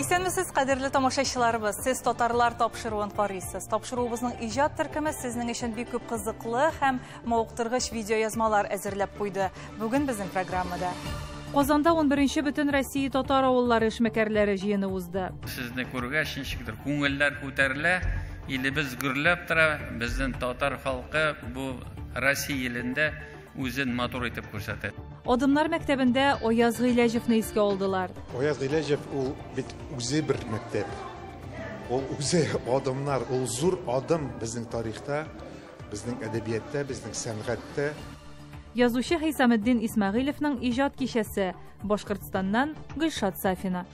Исәнмесез, кадерле тамашачыларыбыз. Сез татарлар тапшыруын карыйсыз. Тапшыруыбызның иҗат төркеме сезнең өчен бик күп кызыклы һәм Мавыктыргыч видеоязмалар әзерләп куйды. Бүген безнең программада. Казанда 11-нче бөтен Россия татар авыллары эшмәкәрләре җыены узды. Сезне күргәч, ничектер күңелләр күтәрелә, илебез гөрләп тора, безнең татар халкы бу Россия илендә үзен матур итеп күрсәтә. Адымнар мәктәбендә Аяз Гыйләҗевны искә алдылар. Аяз Гыйләҗев ул бит үзе бер мәктәп. Ул үзе адымнар, ул зур адым безнең тарихта. Безнең әдәбияттә, безнең сәнгатьтә. Язучы Хисаметдин Исмәгыйлевның иҗат кичәсе, Башкортстаннан Гөлшат Сафина.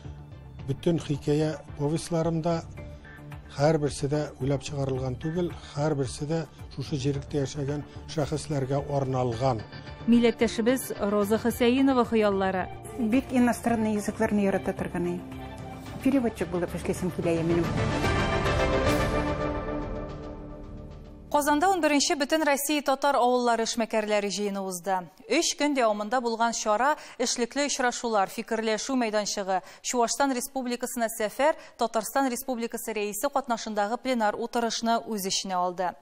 Бөтен хикәя повестьларым да һәрберсе дә уйлап чыгарылган түгел, һәрберсе дә шушы җиректә яшәгән шәхесләргә арналган. Милләттәшебез Роза Хөсәенова хыяллары. Бик иностранный языкларны ярата торган ей. Переводчик булып эшлисем килә минем. Казанда унберенче Бөтенроссия татар авыллары эшмәкәрләре җыены узды. Өч көн дәвамында булган чара, эшлекле очрашулар, фикерләшү мәйданчыгы, Чуашстан Республикасына сәфәр, Татарстан Республикасы Рәисе катнашындагы пленар утырышны үз эченә алды.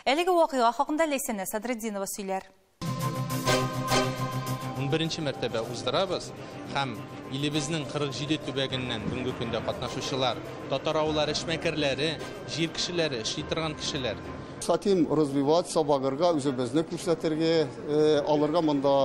Әлеге вакыйга хакында Ләйсәнә Садретдинова сөйләр. Унберенче мәртәбә уздырабыз һәм илебезнең 47 төбәгеннән бүгенге көндә катнашучылар, татар-авыллар эшмәкәрләре, җир кешеләре, эшли торган кешеләр. Сатим развивать, сабагырга, үзебезне күрсәтергә, э, алырга монда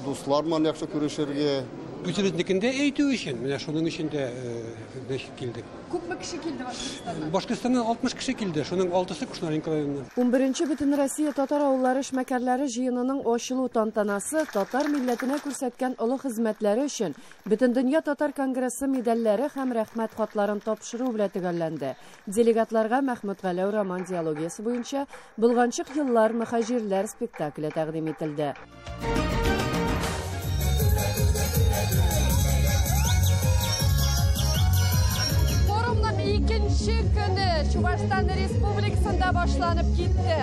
дуслар ман яхшы күрешергә. Үзебезнекендә әйтү өчен, менә шуның өчен дә э, без килдек. Күпме кеше килде Башкортстаннан? Башкортстаннан 60 кеше килде, шуның алтысы Кушнаренко районыннан. Унберенче Бөтенроссия татар авыллары эшмәкәрләре җыенының ачылу тантанасы татар милләтенә күрсәткән олы хезмәтләре өчен Бөтендөнья татар конгрессы медальләре һәм Рәхмәт хатларын тапшыру белән төгәлләнде. Делегатларга Мәхмүт Галәү роман диологиясе буенча Болганчык еллар, мөхәҗирләр спектакле тәкъдим ителде. Чувашстан республикасында башланып китте.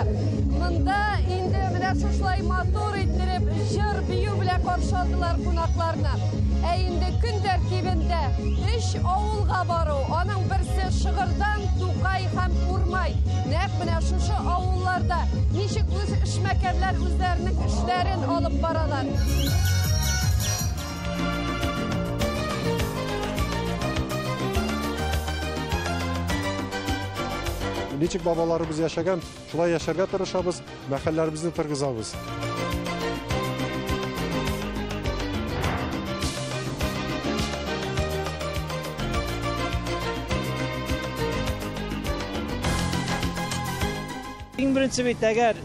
Монда инде менә шушылай матур иттереп җыр бию белән каршы алдылар кунакларны. Ә инде көн тәртибендә өч авылга бару, аның берсе Шыгырдан, Тукай һәм Урмай. Нәкъ менә шушы авылларда ничек Эшмәкәрләр үзләренең эшләрен алып баралар. Ничек бабаларыбыз яшәгән, шулай яшәргә тырышабыз, мәхәлләребезне тыргызабыз. Иң беренче бит, әгәр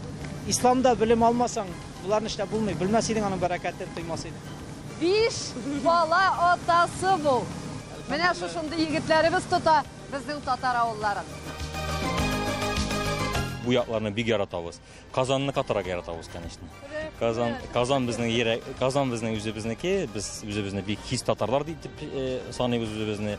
исламда белем алмасаң, боларны эшләп булмый. Белмәс идең аның бәрәкәтен, тоймас идең. Биш бала атасы бу. Менә шушындый егетләребез тота безнең татар авылларын. Бу якларны бик яратабыз. Казанны катырак яратабыз, конечно. Казан, Казан безнең йөрәк, Казан безнең үзебезнеке. Без үзебезне бик хис татарлар дип э, саныйбыз үзебезне.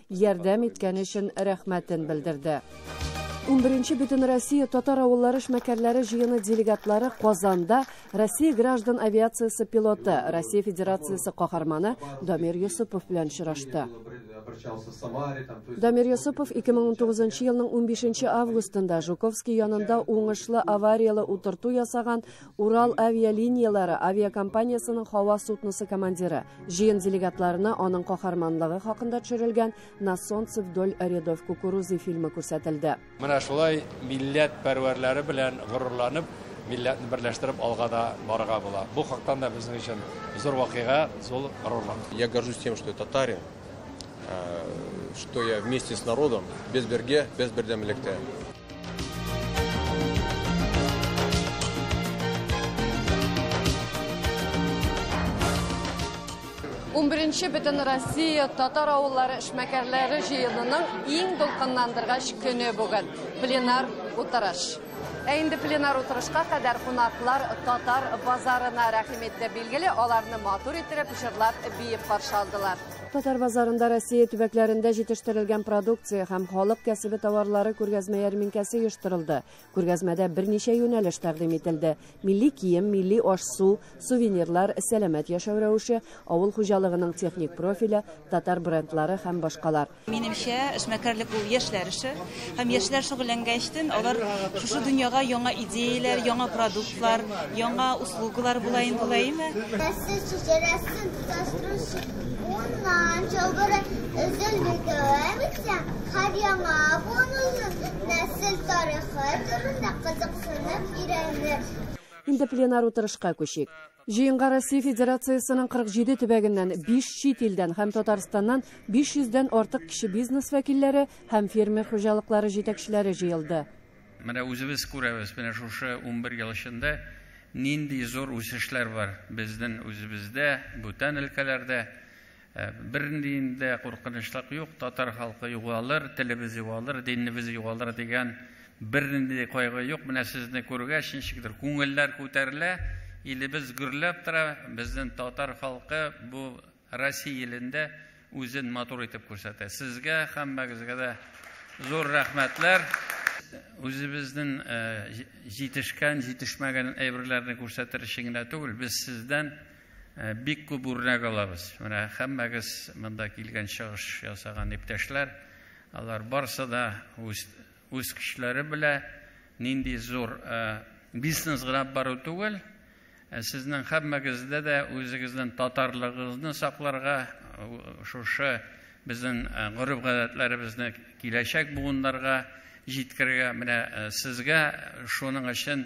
ярдәм иткәне өчен рәхмәтен белдерде. Унберенче Бөтенроссия татар авыллары эшмәкәрләре җыены делегатлары Казанда Россия граждан авиациясе пилоты, Россия Федерациясе каһарманы Дамир Йосыпов белән очрашты. Дамир Йосыпов 2019 елның 15 августында Жуковский янында уңышлы аварияле утырту ясаган Урал авиалинияләре авиакомпаниясенең һава судносы командиры, җыен делегатларына аның каһарманлыгы хакында төшерелгән На солнце вдоль рядов кукурузы фильмы күрсәтелде. Менә шулай милләт пәрвәрләре белән горурланып, милләтне берләштереп алга да барырга була. Бу хактан да безнең өчен зур вакыйга, зур горурлык. Я горжусь тем, что я татарин. Что я вместе с народом, без берге, без бердәмлектә. Унберенче бөтен Россия татар авыллары эшмәкәрләре җыенының иң дулкынландыргач көне бүген. Пленар утырыш. Ә инде пленар утырышка кадәр кунаклар татар базарына рәхим итте. Билгеле, аларны матур иттереп, җырлап, биеп каршы алдылар. Татар базарында Россия төбәкләрендә җитештерелгән продукция һәм халык кәсебе товарлары күргәзмә ярминкәсе оештырылды. Күргәзмәдә берничә юнәлеш тәкъдим ителде. Милли кием, милли аш-су, сувенирлар, сәламәт яшәү рәвеше, авыл хуҗалыгының техник профиле, татар брендлары һәм башкалар. Минемчә, эшмәкәрлек ул яшьләр эше. Һәм яшьләр шөгыльләнгәч тен, алар шушы дөньяга яңа идеяләр, яңа продуктлар, яңа услугалар була инде ул әйеме? Нәрсә шешерәсен тоташтыручы уннан чылбыры өзелде дәвам итсә, һәр яңа буын озын нәсел тарихы турында кызыксынып өйрәнер. Инде пленар утырышка күчик. Җыенга Россия Федерациясенең 47 төбәгеннән, 5 чит илдән һәм Татарстаннан 500 дән артык кече бизнес вәкилләре һәм фермер хуҗалыклары җитәкчеләре җыелды. Менә үзебез күрәбез, менә шушы унбер ел эчендә нинди зур үсешләр бар безнең үзебездә, бүтән өлкәләрдә. Бернинди дә куркынычлык юк, татар халкы югалыр, телебез югалыр, динебез югалыр дигән бернинди дә кайгы юк. Менә сезне күргәч, ничектер күңелләр күтәрелә, илебез гөрләп тора, безнең татар халкы бу Россия илендә үзен матур итеп күрсәтә. Сезгә һәммәгезгә дә зур рәхмәтләр. Үзебезнең җитешкән, җитешмәгән әйберләрне күрсәтер өчен генә түгел, без сездән Бик күп үрнәк алабыз. Менә һәммәгез монда килгән чыгыш ясаган иптәшләр, алар барсы да үз үз кешеләре белә нинди зур бизнес гына бару түгел, Ә сезнең һәммәгездә дә үзегезнең татарлыгыгызны сакларга, шушы безнең гореф-гадәтләребезне киләчәк буыннарга җиткерергә, менә сезгә шуның өчен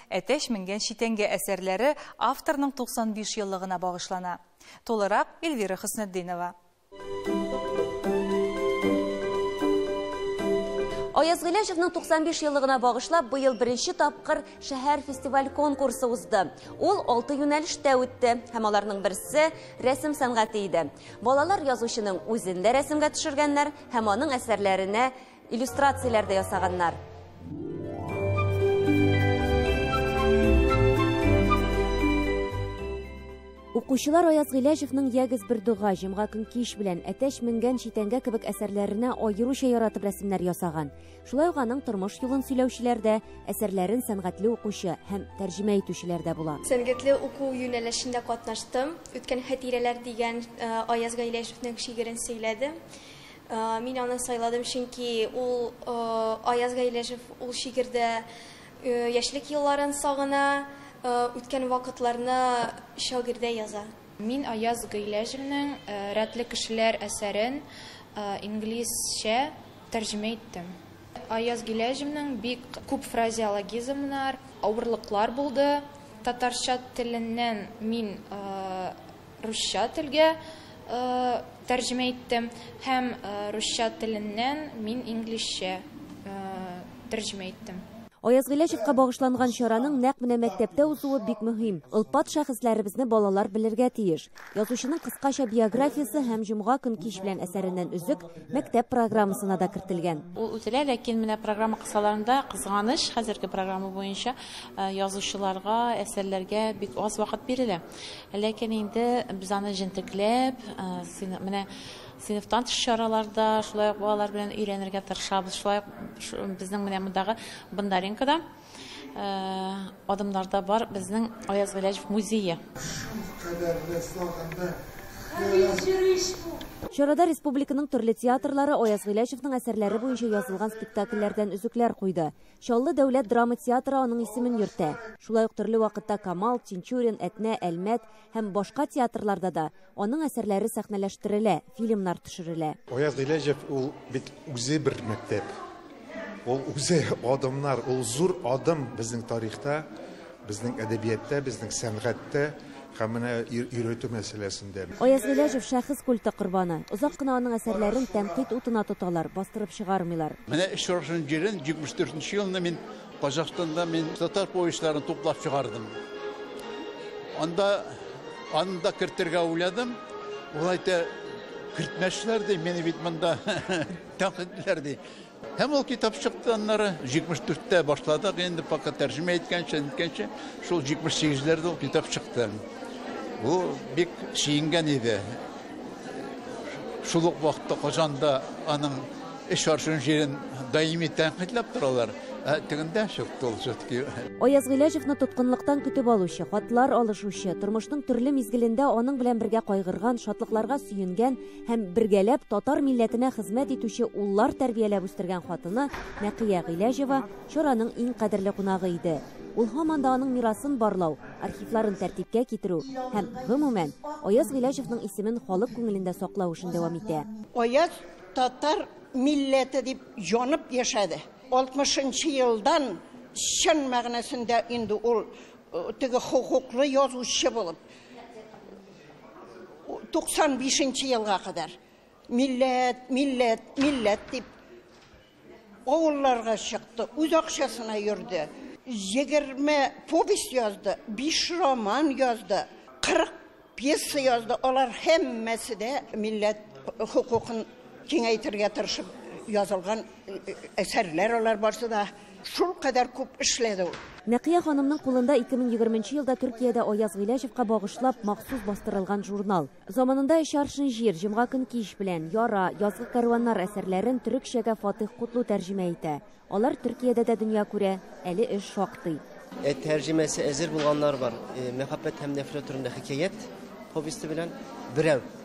Әтәч менгән читәнгә әсәрләре авторның 95 еллыгына багышлана. Тулырак, Эльвира Хөснетдинова. Аяз Гыйләҗевның 95 еллыгына багышлап быел беренче тапкыр шәһәр фестиваль-конкурсы узды. Ул алты юнәлештә үтте һәм аларның берсе рәсем сәнгате иде. Балалар язучының үзен дә рәсемгә төшергәннәр һәм аның әсәрләренә Иллюстрацияләр дә ясаганнар. Укучылар Аяз Гыйләҗевнең Ягез бер дога, Җомга көн кич белән, Әтәч менгән читәнгә кебек әсәрләренә аеруча яратып рәсемнәр ясаган. Шулай ук аның тормыш юлын сөйләүчеләр дә, әсәрләрен сәнгатьле укучы һәм тәрҗемә итүчеләр дә була. Сәнгатьле уку юнәлешендә катнаштым. Үткән хәтирәләр дигән Аяз Гыйләҗевнең шигырен сөйләдем. Мин аны сайладым, чөнки ул, Аяз Гайләҗев, ул шигырьдә яшьлек елларын сагына, үткән вакытларны шагыйрьдә яза. Мин Аяз Гыйләҗевнең Рәтле кешеләр әсәрен инглизчә тәрҗемә иттем. Аяз Гыйләҗевнең бик күп фразеологизмнар, авырлыклар булды. Татарча теленнән мин Русча телгә тәрҗемә иттем һәм русча теленнән мин инглизчә тәрҗемә иттем. Аяз Гыйләҗевка багышланган чараның нәкъ менә мәктәптә узуы бик мөһим. Олпат шәхесләребезне балалар белергә тиеш. Язучының кыскача биографиясе һәм Җомга көн кич белән әсәреннән өзек мәктәп программасына да кертелгән. Ул үтелә, ләкин менә программа кысаларында, кызганыч, хәзерге программа буенча язучыларга, әсәрләргә бик аз вакыт бирелә. Ләкин инде без аны җентекләп, менә сыйныфтан тыш чараларда, шулай ук балалар белән өйрәнергә тырышабыз. Шулай ук безнең менә мондагы Бондаренкода адымнарда бар безнең Аяз Гыйләҗев музее. Чарада республиканың төрле театрлары Аяз Гыйләҗевнең әсәрләре буенча язылган спектакльләрдән өзекләр куйды. Чаллы дәүләт драма театры аның исемен йөртә. Шулай ук төрле вакытта Камал, Тинчурин, Әтнә, Әлмәт һәм башка театрларда да аның әсәрләре сәхнәләштерелә, фильмнар төшерелә. Аяз Гыйләҗев ул бит үзе бер мәктәп. Ул үзе адымнар, ул зур адым безнең тарихта. Безнең әдәбиятта, безнең сәнгатьтә һәм менә өйрәтү мәсьәләсендә. Аяз Гыйләҗев, шәхес культы корбаны. Озак кына аның әсәрләрен тәнкыйть утына тоталар, бастырып чыгармыйлар. Менә Очрашуның җирен 74 нче елны мин Казахстанда мин татар повестьларын туплап чыгардым. Анда аны да кертергә уйладым. Ул әйтә, кертмәсләр ди, мине бит монда тәнкыйтьләр ди. Һәм ул китап чыкты аннары. 74 тә башладык инде, пока тәрҗемә иткәнче, ниткәнче, шул 78 ләрдә ул китап чыкты. Бу бик сөенгән иде. Шул ук вакытта Казанда аның эш арчуын җирен даими тәнкыйтьләп торалар. Ә тегендә чыкты ул все-таки. Аяз Гыйләҗевны тоткынлыктан көтеп алучы, хатлар алышучы, тормышның төрле мизгелендә аның белән бергә кайгырган, шатлыкларга сөенгән, һәм бергәләп татар милләтенә хезмәт итүче уллар тәрбияләп үстергән хатыны Нәкыя Гыйләҗева чараның иң кадерле кунагы иде. Ул һаман да аның мирасын барлау, архивларын тәртипкә китерү һәм, гомумән, Аяз Гыйләҗевның исемен халык күңелендә саклау эшен дәвам итә. Аяз татар милләте дип янып яшәде. 60 нчы елдан чын мәгънәсендә инде ул теге хокуклы язучы булып, 95 нче елга кадәр милләт, милләт, милләт дип авылларга чыкты, үз акчасына йөрде. 20 повесть язды, 5 роман язды, 40 пьеса язды. Алар һәммәсе дә милләт хокукын киңәйтергә тырышып язылган әсәрләр алар барсы да. Шул кадәр күп эшләде ул. Нәкыя ханымның кулында 2020 нче елда Төркиядә Аяз Гыйләҗевка багышлап махсус бастырылган журнал. Заманында Өч аршын җир, Җомга көн кич белән, Яра, Язгы кәрваннар әсәрләрен төрекчәгә Фатыйх Кутлу тәрҗемә итә. Алар Төркиядә дә дөнья күрә, әле эш шактый. Ә тәрҗемәсе әзер булганнар бар. Мәхәббәт һәм нәфрәт турында хикәят повесте белән. Берәү.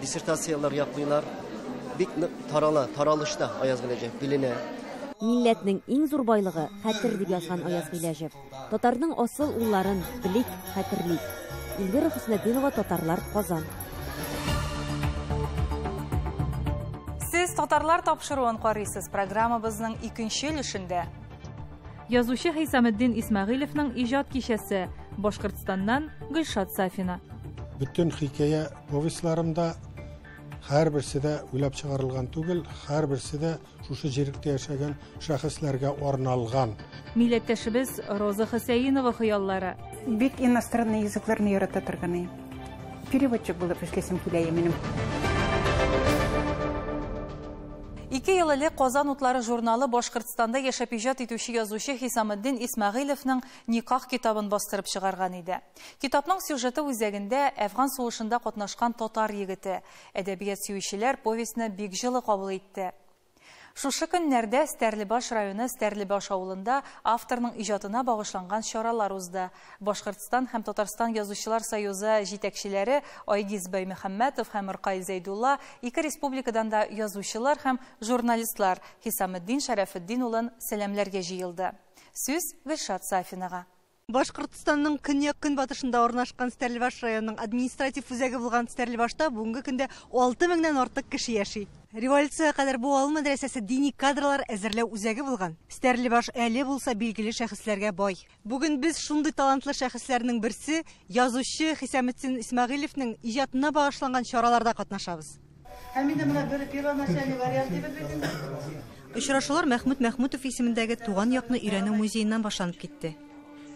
Диссертацияләр яклыйлар. Бик нык тарала, таралышта Аяз Гыйләҗев, биленә. Милләтнең иң зур байлыгы, хәтер, дип язган Аяз Гыйләҗев. Татарның асыл улларын, белик, хәтерлик. Эльвира Хөснетдинова, Татарлар, Казан. Сез Татарлар тапшыруын карыйсыз, программабызның икенче өлешендә. Язучы Хисаметдин Исмәгыйлевның иҗат кичәсе, Башкортстаннан Гөлшат Сафина. Бөтен хикәя повестьларым да һәрберсе дә уйлап чыгарылган түгел, һәрберсе дә шушы җиректә яшәгән шәхесләргә арналган. Милләттәшебез Роза Хөсәенова хыяллары. Бик иностранный языкларны ярата торганы. Переводчик булып эшләсем килә минем. Ике ел элек Казан утлары журналы Башкортстанда яшәп иҗат итүче язучы Хисаметдин Исмәгыйлевның Никах китабын бастырып чыгарган иде. Китапның сюжеты үзәгендә, Әфган сугышында катнашкан татар егете. Әдәбият сөючеләр повестьны бик җылы кабул итте. Шушы көннәрдә Стәрлебаш районы Стәрлебаш авылында авторның иҗатына багышланган чаралар узды. Башкортстан һәм Татарстан Язучылар союзы җитәкчеләре Айгиз Баймөхәммәтов һәм Ркай Зәйдулла ике республикадан да язучылар һәм журналистлар Хисаметдин Шәрәфетдин улын сәламләргә җыелды. Сүз Гөлшат Сафинага. Башкортстанның көньяк-көнбатышында урнашкан Стәрлебаш районының административ үзәге булган Стәрлебашта бүгенге көндә алты меңнән артык кеше яши. Революциягә кадәр бу авыл мәдрәсәсе дини кадрлар әзерләү үзәге булган. Стәрлебаш әле булса билгеле шәхесләргә бай. Бүген без шундый талантлы шәхесләрнең берсе, язучы Хисаметдин Исмәгыйлевнең иҗатына багышланган чараларда катнашабыз. Һәм инде менә бер первоначальный вариант дибез бит инде. Очрашулар Мәхмүт Мәхмүтов исемендәге Туган якны өйрәнү музееннан башланып китте.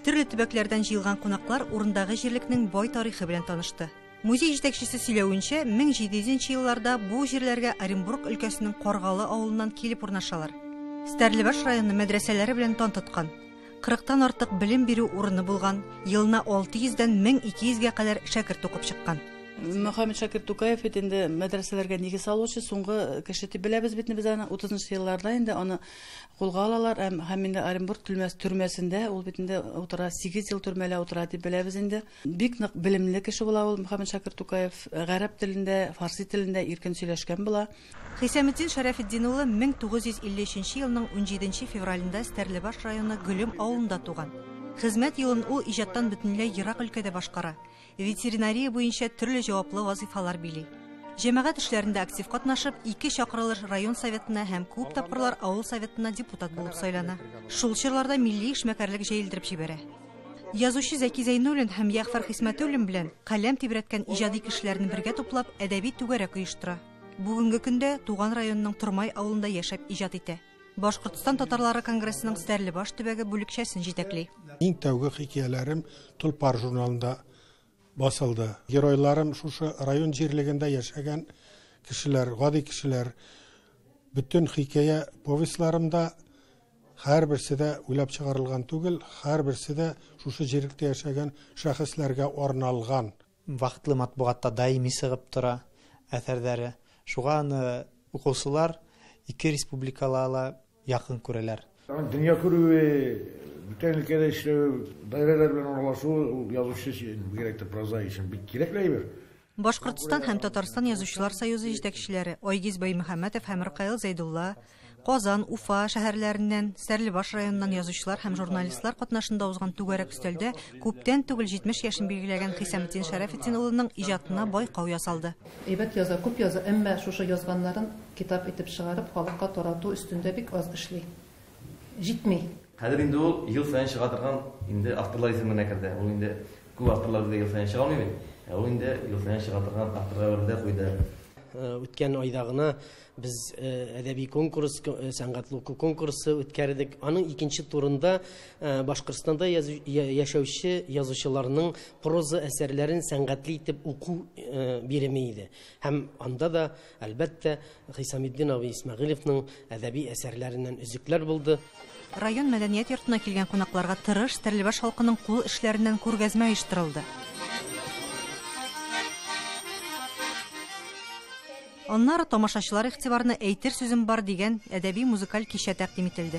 Төрле төбәкләрдән җыелган кунаклар урындагы җирлекнең бай тарихы белән танышты. Музей җитәкчесе сөйләвенчә, 1700 нче елларда бу җирләргә Оренбург өлкәсенең Каргалы авылыннан килеп урнашалар. Стәрлебаш районы мәдрәсәләре белән тан тоткан. Кырыктан артык белем бирү урыны булган, елына 600 дән 1200 гә кадәр шәкерт укып чыккан. Мөхәммәт Шакир Тукаев бит инде мәдрәсәләргә нигез салучы, соңгы кеше дип беләбез бит без аны. 30 нчы елларда инде аны кулга алалар һәм инде Оренбург төрмәсендә ул бит инде утыра, 8 ел төрмәлә утыра дип беләбез инде. Бик нык белемле кеше була ул Мөхәммәтшакир Тукаев. Гарәп телендә, фарси телендә иркен сөйләшкән була. Хисаметдин Шәрәфетдин улы 1953 елның 17 февралендә Стәрлебаш районы Гөлем авылында туган. Хезмәт юлын ул иҗаттан бөтенләй ерак өлкәдә башкара, ветеринария буенча төрле җаваплы вазыйфалар били. Җәмәгать эшләрендә актив катнашып, ике чакырылыш район советына һәм күп тапкырлар авыл советына депутат булып сайлана. Шул чорларда милли эшмәкәрлек җәелдереп җибәрә. Язучы Зәки Зәйнуллин һәм Ягъфар Хисмәтуллин белән каләм тибрәткән иҗади кешеләрне бергә туплап, әдәби түгәрәк оештыра. Бүгенге көндә туган районының Тормай авылында яшәп иҗат итә. Башкортстан татарлары конгрессының Стәрлебаш төбәге бүлекчәсен җитәкли. Иң тәүге хикәяләрем Толпар журналында басылды. Геройларым шушы район җирлегендә яшәгән кешеләр, гади кешеләр. Бөтен хикәя повестьларымда Һәрберсе дә уйлап чыгарылган түгел, һәрберсе дә шушы җирлектә яшәгән шәхесләргә арналган. Вакытлы матбугатта даими чыгып тора әсәрләре. Шуга аны укучылар ике республикала ла якын күрәләр. Аның дөнья күрүе, бүтән өлкәдә эшләве, даирәләр белән аралашуы ул язучы өчен, бигрәк тә прозаик өчен бик кирәкле әйбер. Башкортстан һәм Татарстан Язучылар союзы җитәкчеләре Айгиз Баймөхәммәтов һәм Ркаил Зәйдулла, Казан, Уфа шәһәрләреннән, Стәрлебаш районыннан язучылар һәм журналистлар катнашында узган түгәрәк өстәлдә күптән түгел 70 яшен билгеләгән Хисаметдин Шәрәфетдин улының иҗатына байкау ясалды. Әйбәт яза, күп яза, әмма шушы язганнарын китап итеп чыгарып, халыкка тарату өстендә бик аз эшли. Җитми. Хәзер инде ул ел саен чыга торган инде авторлар исеменә керде. Ул инде Күп авторлар безгә ел саен чыга алмый бит. Ә ул инде ел саен чыга торган авторга әверелә куйды. Үткән айда гына без әдәби конкурс, сәнгатьле уку конкурсы үткәрдек. Аның икенче турында Башкортстанда яшәүче язучыларның проза әсәрләрен сәнгатьле итеп уку биреме иде. Һәм анда да Әлбәттә, Хисаметдинов Исмәгыйлевның әдәби әсәрләреннән өзекләр булды. Район мәдәният йортына килгән кунакларга тырыш Стәрлебаш халкының кул эшләреннән күргәзмә оештырылды. Аннары тамашачылар игътибарына Әйтер сүзем бар дигән әдәби-музыкаль кичә тәкъдим ителде.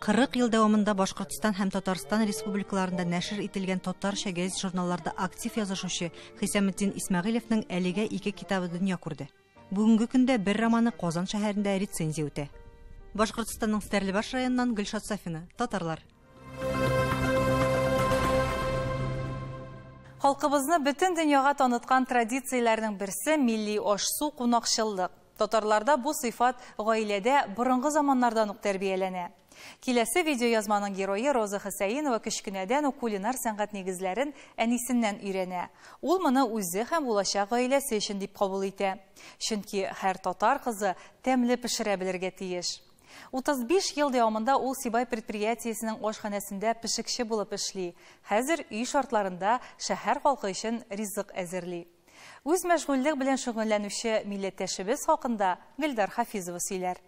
40 ел дәвамында Башкортстан һәм Татарстан республикаларында нәшер ителгән татарча гәзит-журналларда актив язышучы Хисаметдин Исмәгыйлевның әлегә ике китабы дөнья күрде. Бүгенге көндә бер романы Казан шәһәрендә рецензия үтә. Башкортстанның Стәрлебаш районыннан Гөлшат Сафина, татарлар. Халкыбызны бөтен дөньяга таныткан традицияләрнең берсе милли аш-су, кунакчыллык. Татарларда бу сыйфат гаиләдә борынгы заманнардан ук тәрбияләнә. Киләсе видеоязманың герое Роза Хөсәенова кечкенәдән үк кулинар сәнгать нигезләрен әнисеннән өйрәнә. Ул моны үзе һәм булачак гаиләсе өчен дип кабул итә. Чөнки һәр татар кызы тәмле пешерә белергә тиеш. 35 ел дәвамында ул Сибай предприятиесенең ашханәсендә пешекче булып эшли, хәзер өй шартларында шәһәр халкы өчен ризык әзерли. Үз мәшгульлек белән шөгыльләнүче милләттәшебез хакында Гөлдар Хафизова сөйләр.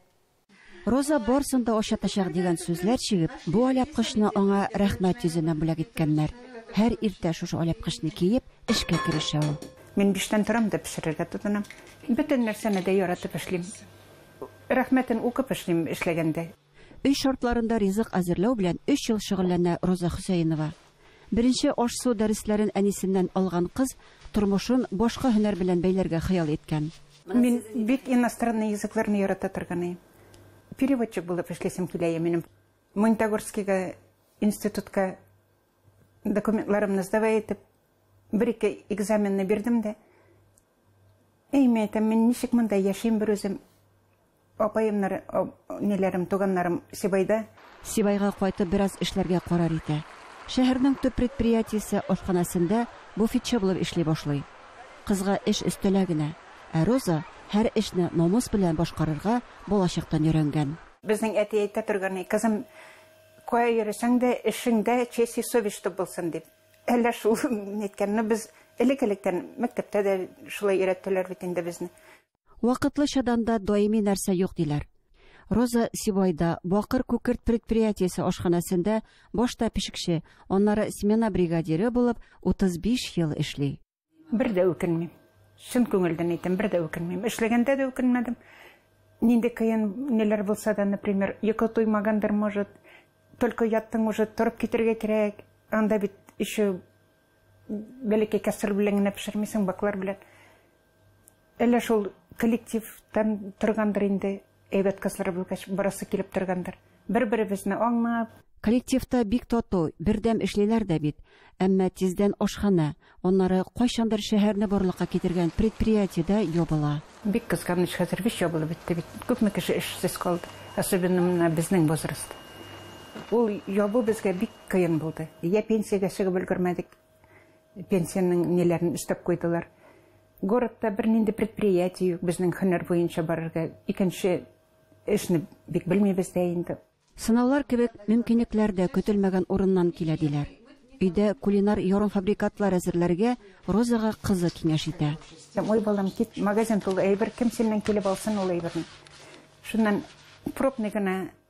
Роза барсын да очатачак дигән сүзләр чигеп, бу алъяпкычны аңа рәхмәт йөзенә бүләк иткәннәр. Һәр иртә шушы алъяпкычны киеп, эшкә керешә ул. Мин биштән торам да пешерергә тотынам. Бөтен нәрсәне дә яратып эшлим. Рәхмәтен укып эшлим эшләгәндә. Өй шартларында ризык әзерләү белән өч ел шөгыльләнә Роза Хөсәенова. Беренче аш-су дәресләрен әнисеннән алган кыз тормышын башка һөнәр белән бәйләргә хыял иткән. Мин бик иностранный языкларны ярата торган ем. Переводчик булып эшлисем килә иде минем. Монтагорскига институтка документларымны сдавай итеп, бер-ике экзаменны бирдем дә, әйме әйтәм, мин ничек монда яшим берүзем? Апаемнар, энеләрем, туганнарым Сибайда. Сибайга кайтып бераз эшләргә карар итә. Шәһәрнең төп предприятиесе ашханәсендә буфетчы булып эшли башлый. Кызга эш өстәлә генә, ә Роза һәр эшне намус белән башкарырга балачактан өйрәнгән. Безнең әти әйтә торганы, кызым, кая йөресәң дә, эшең дә честь и совесть чтоб булсын дип. Әллә шул, мин әйткән, ну без элек-электән мәктәптә дә шулай өйрәттеләр бит инде безне. Вакытлычадан да даими нәрсә юк, диләр. Роза Сибайда Бакыр күкерт предприятиесе ашханәсендә башта пешекче, аннары смена бригадиры булып 35 ел эшли. Бер дә үкенмим. Чын күңелдән әйтәм, бер дә үкенмим. Эшләгәндә дә үкенмәдем. Нинди кыен ниләр булса да, например, йокы туймагандыр, может, только яттың уже, торып китергә кирәк. Анда бит еще бәләкәй кәстрүл белән генә пешермисең, баклар белән. Әллә шул коллектив тән торгандыр инде, әйбәт кызлар булгач, барасы килеп торгандыр. Бер-беребезне аңлап. Коллективта бик тату, бердәм эшлиләр дә бит. Әмма тиздән ашханә, аннары кайчандыр шәһәрне барлыкка китергән предприятие дә ябыла. Бик кызганыч, хәзер биш ябылып бетте бит. Күпме кеше эшсез калды, особенно менә безнең возраст. Ул ябу безгә бик кыен булды. Йә пенсиягә чыгып өлгермәдек. Пенсиянең ниләрен өстәп куйдылар. Городта бернинди предприятие юк, безнең һөнәр буенча барырга икенче эшне бик белмибез дә инде. Сынаулар кебек мөмкинлекләр дә көтелмәгән урыннан килә, диләр. Өйдә кулинар ярымфабрикатлар әзерләргә Розага кызы киңәш итә. Ой, балам, кит, магазин тулы әйбер, кем синнән килеп алсын ул әйберне? Шуннан пробный гына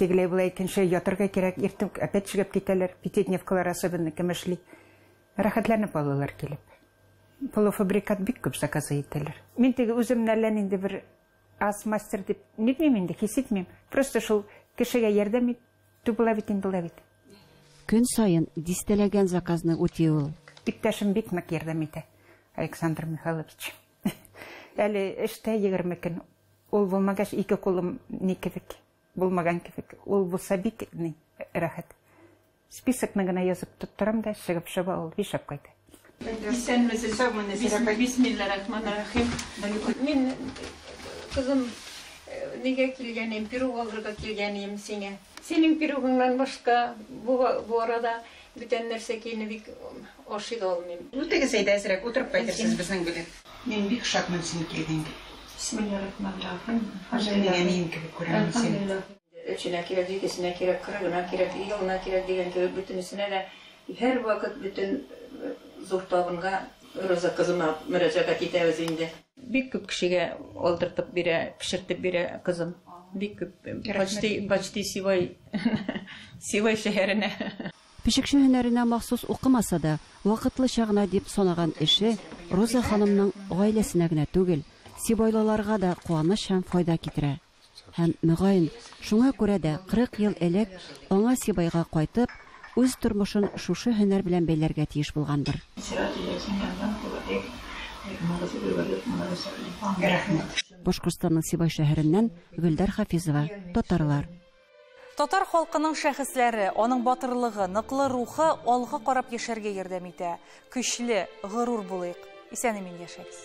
Тегеләй-болай әйткәнчә, ятырга кирәк, иртү опять чыгып китәләр, пятидневкалар особенно кем эшли. Рәхәтләнеп алалар килеп. Полуфабрикат бик күп заказы итәләр. Мин теге үземне әллә нинди бер аз мастер дип нитмим инде, хис итмим. Просто шул кешегә ярдәм ит, ту була бит инде була бит. Көн саен дистәләгән заказны үти ул. Иптәшем бик нык ярдәм итә, Александр Михайлович. Әле эштә егерме көн. Ул булмагач, ике кулым ни кебек, булмаган кебек. Ул булса бик ни рәхәт. Списокны гына язып тоттырам да, чыгып чаба ул, ишәп кайта. Исәнмесез, саумы, Нәзирә апай. Бисмилла рахман рахим. Мин, кызым, нигә килгән идем, пирог алырга килгән идем сиңа. Синең пирогыңнан башка бу бу арада бүтән нәрсә киене бик ашый да алмыйм. Үтегез әйдә әзрәк утырып кайтырсыз безнең белән. Мин бик шатмын син килгәнгә. Бисмилла рахман рахим. Үземнең әнием кебек күрәмен сине. Өченә кирәк, җидесенә кирәк, кырыгына кирәк, елына кирәк дигән кебек бөтенесенә дә һәрвакыт бөтен зур табынга Роза кызыма мөрәҗәгать итәбез инде. Бик күп кешегә алдыртып бирә, пешертеп бирә кызым. Бик күп. Почти, почти Сивай, Сивай шәһәренә. Пешекче һөнәренә махсус укымаса да, вакытлыча гына дип санаган эше Роза ханымның гаиләсенә генә түгел, сибайлыларга да куаныч һәм файда китерә. Һәм, мөгаен, шуңа күрә дә 40 ел элек аңа Сибайга кайтып, үз тормышын шушы һөнәр белән бәйләргә тиеш булгандыр. Башкортстанның Сибай шәһәреннән Гөлдәр Хафизова, татарлар. Татар халкының шәхесләре, аның батырлыгы, ныклы рухы алга карап яшәргә ярдәм итә. Көчле, горур булыйк. Исән-имин яшәгез.